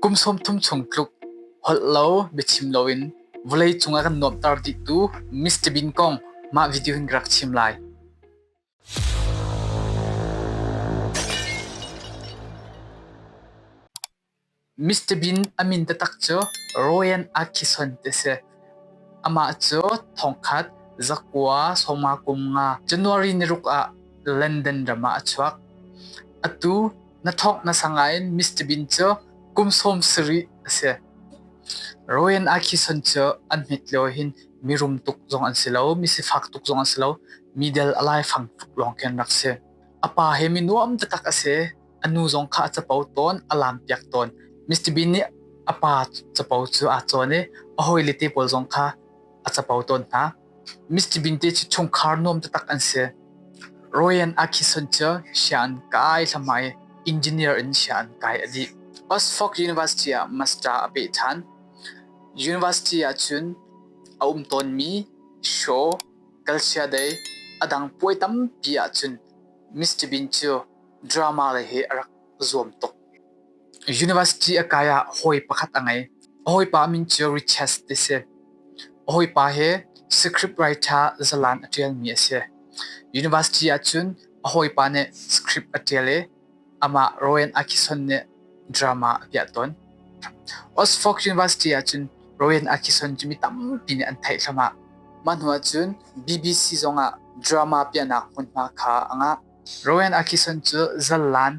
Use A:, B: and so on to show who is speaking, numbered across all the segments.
A: Kum sawmthum chung tluk holh lo biachim loin vawlei cungah kan nuamhter dihtu Mr. Bean kong mah video hin ka rak chim lai. Mr. Bean a min taktak cu Royan Atkinson ti a si. Amah cu thongkhat zakua sawma kum nga January niruk ah London ram ah a chuak. Atu na thawk na sangain Mr. Bean cu kum sawm sarih a si. Royen Akison cu an mit leo hin mi rum tuk zong an si lo, mi sifak tuk zong an si lo, mi dal alai fang tuk lawng ken rak si. A pa he mi nuam takak a si, a nu zong kha a capo tawn, a lam piak tawn. Mr. Bean nih a pa capo cu a cawn i a hawile te pawl zong kha a capo tawn hna. Mr. Bean te cu chungkhar nuam taktak an si. Royan Atkinson cu sia an kai thlahmai i engineer in sia an kai a dih. Oxford University ah master a peh ṭhan. University ahcun a um tawnmi Shaw, Calcia Dei a dang puai tampi ahcun Mr. Bean cu drama lei hi a rak zuam tuk. University a kai ah hawi pakhat a ngei. A hawipa min cu Richards ti si. A hawipa hi script writer zalan a ṭialmi a si. University ahcun a hawipa nih script a ṭial i amah Rowan Atkinson nih drama a piah tawn. Oxford University ahcun Rowan Atkinson cu mi tampi nih an theih thluahmah. Mah hnu ahcun BBC zongah drama piahnak hmunhma kha a ngah. Rowan Atkinson cu zalan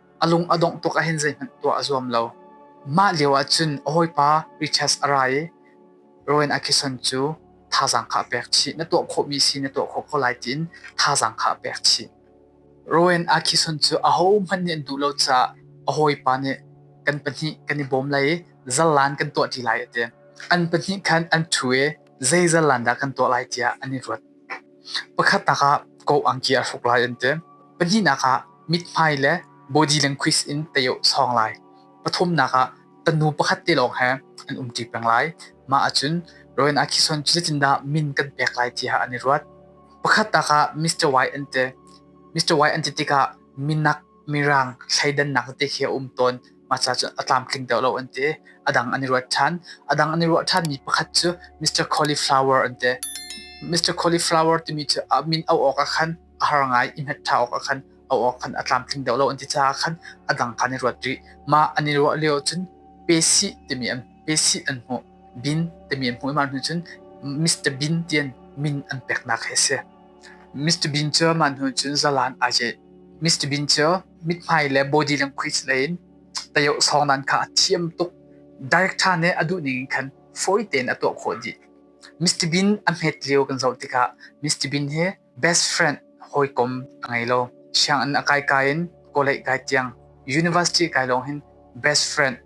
A: a lung a dongh tuk ahhin zeihmanh tuah a zuam lo. Mah lioah cun a hawipa Richards a ra i Rowan Atkinson cu thazaang kha a pek chih. Na tuah khawhmi si na tuah khawh ko lai tiin thazaang kha a pek chih. Rowan Atkinson cu ahohmanh nih an duh lo caah a hawipa nih kan pahnih kan i bawm lai i zarlan kan tuah ṭi lai a ti. An pahnih khan an ṭhu i zei zarlan dah kan tuah lai tiah an i ruat. Pakhatnak ah koangki a hruk lai an ti. Pahnihnak ah mithmai le body language in tei awh sawng lai. Pathumnak ah tanu pakhat te lawng he an um ṭi peng lai. Mah ahcun rawin ah khison cu zeitindah min kan pek lai ti ah an i ruat. Pakhatnak ah Mr. Y an ti. Mr. Y an ti tikah minak, mirang, thleidannak te hi a um tawn. Masa cu a tlamtling deuh lo an ti. A dang an i ruat ṭhan. A dang an i ruah ṭhanmi pakhat cu Mr. Cauliflower an ti. Mr. Cauliflower timi cu a min auh awkah khan a har ngai i hmet ṭha awkah khan auh awk khan a tlamtling deuh lo an ti caah khan a dang kha an i ruat rih. Mah an i ruah lio cun pesih timi an pesih an hmuh. Bin timi an hmuh i mah hnu cun Mr. Bean ti in min an peknak hi a si. Mr. Bean cu mah hnu cun zalan aa ceh. Mr. Bean cu mithmai le body le khuis lei in tayoh sawng nan kha a thiam tuk. Director nih a duh ning in khan fawi tein a tuah khawh dih. Mr. Bean a hmet lio kan zoh tikah Mr. Bean hi best friend hawikom a ngei lo. Sianginn a kai kai in kawleih kai tiang, university kai lawng hin best friend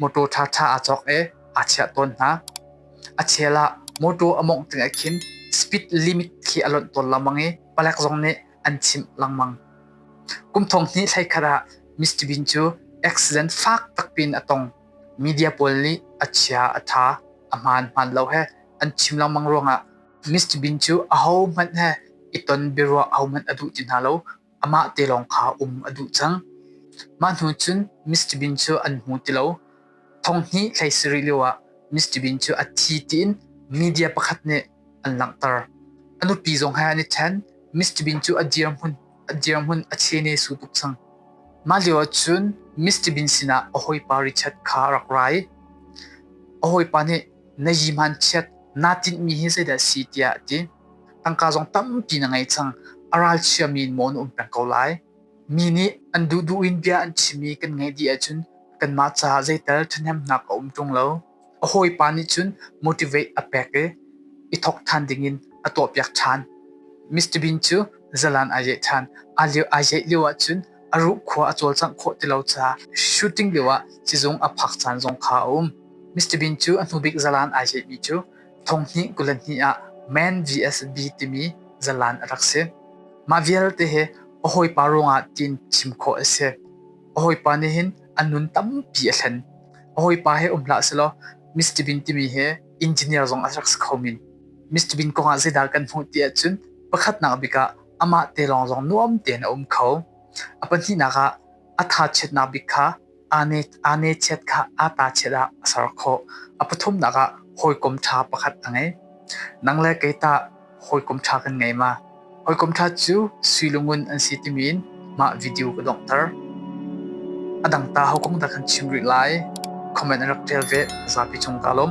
A: Motor ṭhaṭha aa cawk i aa chiah tawn hna. A chel ah motor a mawngh ding ah khin speed limit khi a lonh tawn lengmang i palek zong nih an chimh lengmang. Kum thong hnih thlai khat ah Mr. Bean cu accident fak tak piin a tong. Media pawl nih a chia a ṭha. A hmaan hmaan lo he an chim lengmang ruangah Mr. Bean cu ahohmanh he i ton biaruah ahohmanh a duh ti hna lo. amah te lawng kha um a duh cang. Mah hnu cun Mr. Bean cu an hmu ti lo. Thong hnih thlei sarih lioah Mr. Bean cu a thi tiin media pakhat nih an langhter. A nupi zong he an i ṭhen. Mr. Bean cu a dirhmun a dirhmun a chene su tuk cang. Mah lioah cun Mr. Bean sinah a hawipa Richard kha a rak ra i a hawipa nih na yihman chiat naa tinhmi hi zeidah a si tiah a ti. tangka zong tampi na ngei cang a ralchiami in maw na um peng ko lai mi nih an duh duh in bia an chim i kan ngaih dih ahcun kanmah caah zeital ṭhahnemnak a um ṭung lo a hawipa nih cun motivate a pek i i thawk ṭhan dingin a tuahpiak ṭhan Mr. Bean cu zalan aa yeh ṭhan aa lio aa yeh lio ahcun a ruh khua a cawlcangh khawh ti lo caah shooting lioah sizung a phak caan zong kha a um Mr. Bean cu a hnubik zalan aa yehmi cu Thong hnih kul hnih ah Man VSB timi zalan a rak si. Mah vialte hi a hawipa ruangah tiin chim khawh a si. A hawipa nih hin a nun tampi a thlen. A hawipa he um hlah selaw Mr. Bean timi hi engineer zong a rak si kho min. Mr. Bean kongah zeidah kan hmuh ti ahcun pakhatnak bik ah amah te lawng zong nuam tein a um kho. A pahnihnak ah a tha chiatnak bik kha Aa nechiat kha aa tachiat ah a ser khawh. A pathumnak ah hawikom ṭha pakhat a ngei. Nang le kei tah hawikom ṭha kan ngei ma? Hawikom ṭha cu sui lungun an si timi in mah video ka donghter. A dang ta hawikom dah kan chim rih lai? Comment an rak ṭial ve zapi cung ka lawm.